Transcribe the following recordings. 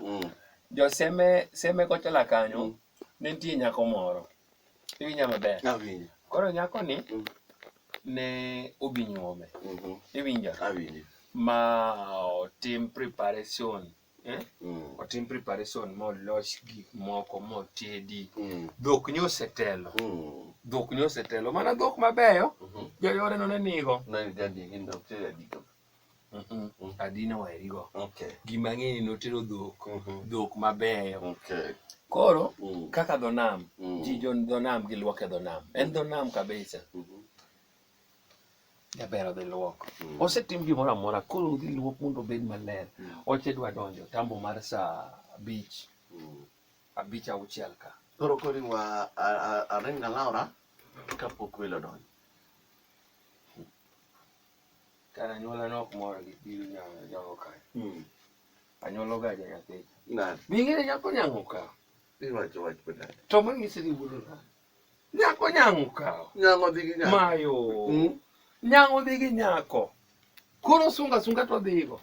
mm. jo seme seme kochola kanyo mm. ne nitie nyako moro iwinja maber koro nyako ni mm. ne obi nyuome mm-hmm. iwinja ma otim preparation eh? mm. otim preparation molos gik moko motedi mm. dhok ni osetelo mm. dhok ni osetelo mana dhok mabeyo mm -hmm. joyore no ne nigo adina waerigo gima ng'eni notero dhok mhm. dhok mabeyo koro mm. kaka dho nam mm. ji jo dho nam gilwoke dho nam en dho nam kabisa mhm. jaber odhi lwok mm. osetim gimoro amora koro odhi lwok mondo obed maler oche dwa donjo tambo mar saa abich abich auchiel ka koro kori wa arenga laura kapok welo donjo Ka anyuola nok mor gi biro nyalo nyalo ka. Mm. Anyuola ga ja nyathi. Na. Bingere nyako nyango ka. Iwacho wach peda. To ma ngisi ni wudu na. Nyako nyango ka. Nyango dhi gi nyako. Mayo. Mm. Nyango dhi gi nyako. Koro sunga sunga to dhigo.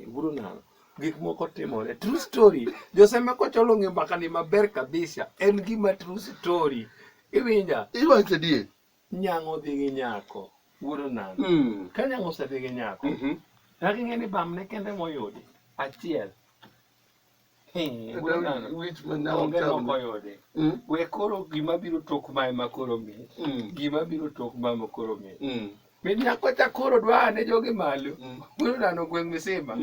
Wudu na. Gik moko timore. True story. Joseme kocholo ng'e mbaka ni maber kabisa. En gima true story. Iwinja. Iwacho die. Nyang'o dhi gi nyako wuod onam mm. ka nyang'o osedhi gi nyako mm -hmm. nyaka ing'e ni bamne kende moyudi achiel mm. we koro gima biro tok ma ema koro mi mm. gima biro tok ma ema koro mi mm. min nyako cha koro dwa ane jogi malo wuod onano gweng' misima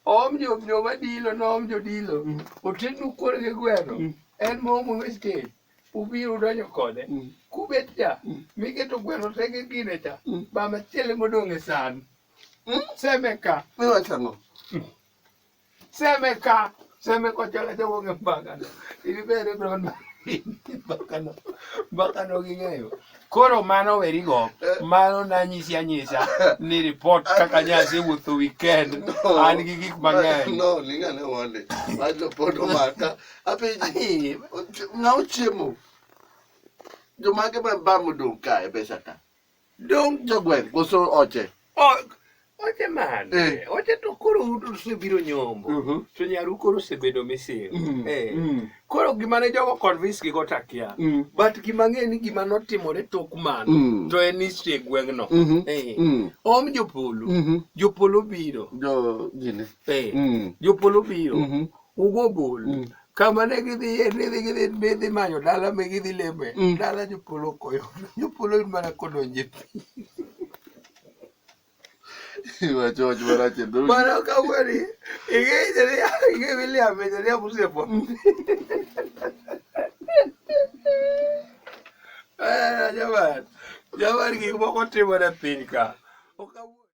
om jo jo madilo no om jo dilo otendu kuor gi gweno en mo mo westage ubiro donjo kode mm. kubet cha mm. miketo gweno te gi gine cha mm. ba machiele modong' e san mm? seme ka miwachang'o mm. seme ka seme kochola jowonge mbakano ibibere bron mbakano mbakano ging'eyo koro mano werigo eh. mano nanyisi anyisa ni report kaka nyasi wuotho weekend an gi gik mang'eny no lingane wonde wajo pod omaka apenji ng'a ochiemo jomage ma ba modong' ka e pesa ka dong' jogweng' koso oche oche man eh. oche to koro usebiro nyombo mhm. to nyaru koro osebedo misil mm, eh. mm. koro gima ne jogo convince gigo takia mm. but gima ng'e ni gima notimore tok mano to en history e gweng'no mhm. eh. om jopolo mhm. jopolo biro jopolo biro Ugo bul. Mm. Kama ne gidhiye, ne dhi gidhi ne dhi manyo dala me gidhi leme. Mm. Dala jopolo koyo. Jopolo in mana kodonje pi. Iwachoch marach e dhogi. Mano ka weri. Inge jaria, inge William e jaria musiepo. Eh, jamani. Jamani gik moko timore e piny ka. Ok awuo-